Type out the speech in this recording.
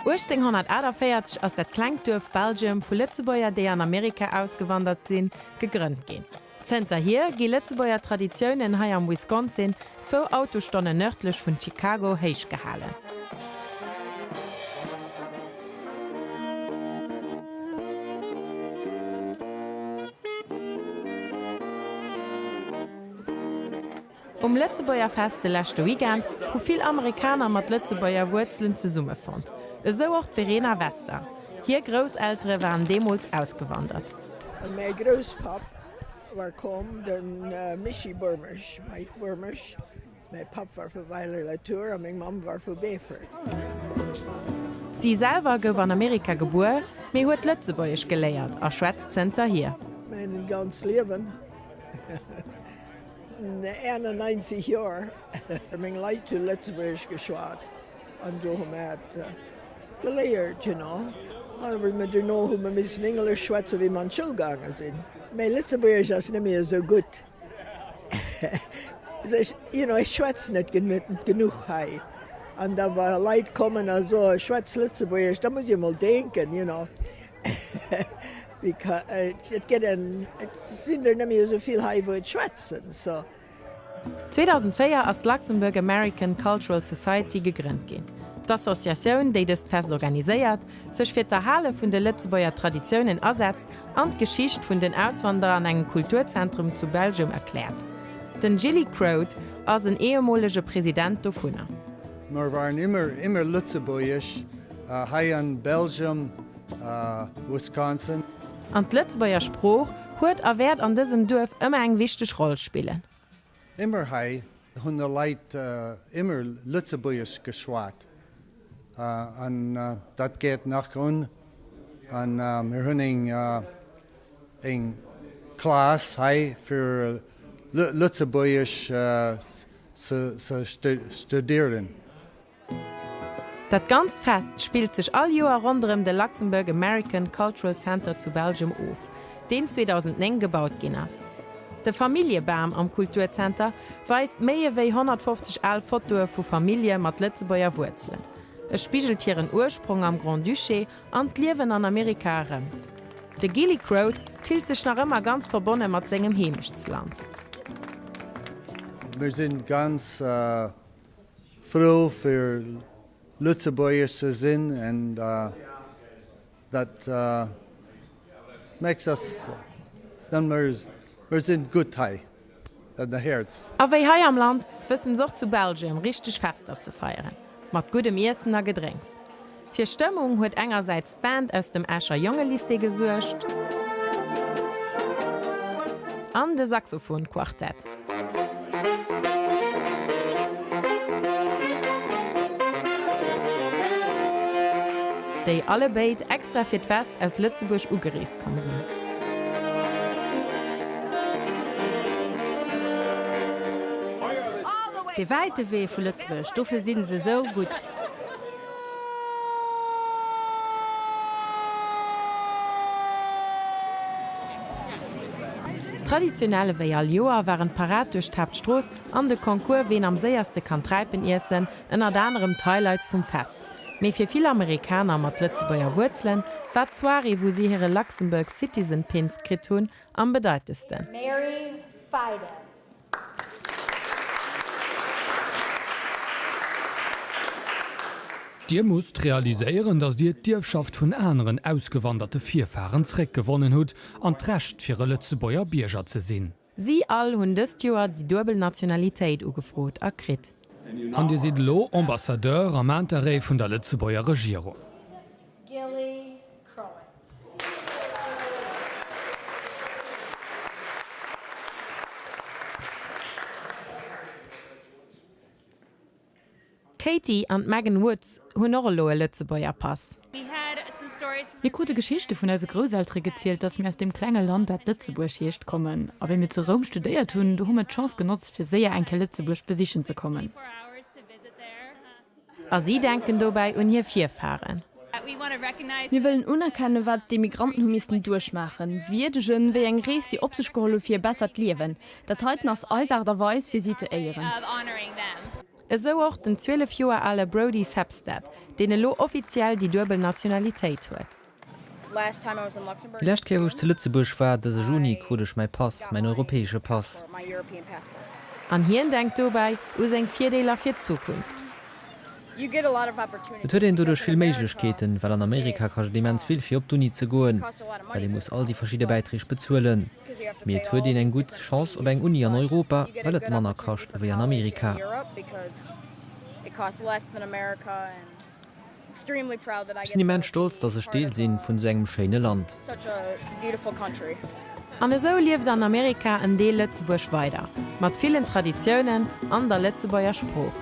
1848 ass dat klengt Duerf Belgium vu Lëtzebuerger, déi an Amerika ausgewandert sinn, gegrënnt ginn. Zënterhier gi Lëtzebuerger Traditiounen hei am Wisconsin, zwou Autostonne nërdlech vun Chicago, héich gehalen. Um Lëtzebuerger Fest de leschte Weekend hu vill Amerikaner mat Lëtzebuerger Wuerzelen zesummefonnt, esou och d'Verena Vester. Hir Grousseltere waren deemools ausgewandert. Mäi Grousspapp war komm, de Mischii Boermesch, Mike Boermesch. Mäi Papp war vu Weiler-la-Tour a meng Mamm war vu Beefort. Si selwer gouf an Amerika gebuer, mee huet Lëtzebuergesch geléiert a schwätzt zënterhier. Mäin ganz Liewen. 91 Joer meng Leit zu Lëtzebuerg geschwat an do hu mer et geléiert. Duerno hu mer missen Englesch schwätzen, wéi mer an d'Schoul gaange sinn. Mäi Lëtzebuergesch ass net méi esou gutt, ech schwätz net genuch hei. An da wa Leit kommen a soe schwätz Lëtzebuergesch, da muss ech emol denken. 2004 ass d'Luxembourg American Cultural Society gegrënnt ginn. D'Associatioun, déi dëst Fest organiséiert, sech fir d'Erhale vun de Lëtzebuerger Traditiounen asetzt an d'Geschicht vun den Auswanderer an engem Kulturzentrum zu Belgium erkläert. Den Gilly Croad ass en ehemolege President dovunner. Mer waren immer immer lëtzebuergesch hei an Belgium a Wisconsin. An d'Lëtzebuerger Sprooch huet a wäert an dësem Duerf ëmmer eng wichteg Roll spillen. Immer hei hunn der Leit immer lëtzebuergesch geschwat an dat geet nach un. An mir hunn eng eng Class hei fir lëtzebuergesch ze studieren. Dat ganzt Fest spillt sech all Joer ronderëm de Luxembourg American Cultural Center zu Belgium of, deen 2009 gebaut ginn ass. De Familljebam am Kulturzenter weist méi ewéi 150 al Fotoe vu Famillje mat Lëtzebuerger Wuerzelen. E spigelt hiren Ursprong am Grand-Duché An d'Liewen an Amerika erëm. De Gilly Croad fillt sech nach ëmmer ganz verbonne mat sengem Heemechtsland. Mir sinn ganz frou fir Lëtzebuergesch ze sinn, an dat Max ass dann mol mer sinn gutt hei an der Häerz. A wéi hei am Land, wëssen se och zu Belgien richteg Fester ze feieren, mat guddem Iessen a Gedrénks. Fir Stëmmung huet engersäits d'Band aus dem Escher Jongelycée gesuergt an de Saxophon-Quartett. Déi alle béid extra fir d'Fest aus Lëtzebuerg ugereest komm sinn. Dee wäite Wee vu Lëtzebuerg, dofir si se esou gutt. Traditionell ewéi all Joer waren d'Parad duerch d'Haaptstrooss an de Concours Ween am séierste kann Träipen iessen ënnert anerem d'Highlights vum Fest. Mee fir vill Amerikaner mat Lëtzebuerger Wuerzelen war d'Soirée wou si hire Luxembourg Citizen Pins kritt hunn am bedeitendsten. Dir musst realiséieren, datt Dir d'Ierfschaft vun aneren ausgewanderte Virfaren zréckgewonnen hutt an d'Recht fir e Lëtzebuerger Bierger ze sinn. Si all hunn dëst Joer déi duebel Nationalitéit ugefrot a kritt. An Dir sidd elo Ambassadeur am Interêt vun der Lëtzebuerger Regierung. Crowent. D'Katie an d'Megan Woods hunn och elo e Lëtzebuerger Pass. Mir krute Geschichte vun eise Grousseltere gezielt, dass mir aus deem klenge Land, dat Lëtzebuerg heescht, kommen. A wéi mir zu Roum studéiert hunn, do hu mir d'Chance genotzt, fir séier eng Kéier Lëtzebuerg besichen ze kommen. A si denken dobäi un hir Virfaren. Mir wëllen unerkennen, wat d'Emigranten hu missten duerchmaachen, wierdegen, wéi eng Rees si op sech geholl hu fir e bessert Liewen. Dat heiten ass eis Aart a Weis, fir si ze éieren. Esou och den 12 Joer ale Brodie Sebstad, deen elo offiziell déi duebel Nationalitéit huet. Déi lescht Kéier wou ech zu Lëtzebuerg war, dëse Juni, krut ech mäi Pass, mäin europäesche Pass. An hien denkt dobäi u seng Virdeeler fir d'Zukunft. Et huet een doduerch vill Méiglechkeeten, well an Amerika kascht et immens vill fir op d'Uni ze goen, well ee muss all déi verschidde Bäitreeg bezuelen. Mee et huet een eng gutt Chance op eng Uni an Europa, well et manner kascht ewéi an Amerika. Ech sinn immens stolz, dass ech Deel si vun esou engem schéine Land. An esou lieft an Amerika en Deel Lëtzebuerg weider, mat villen Traditiounen an der Lëtzebuerger Sprooch.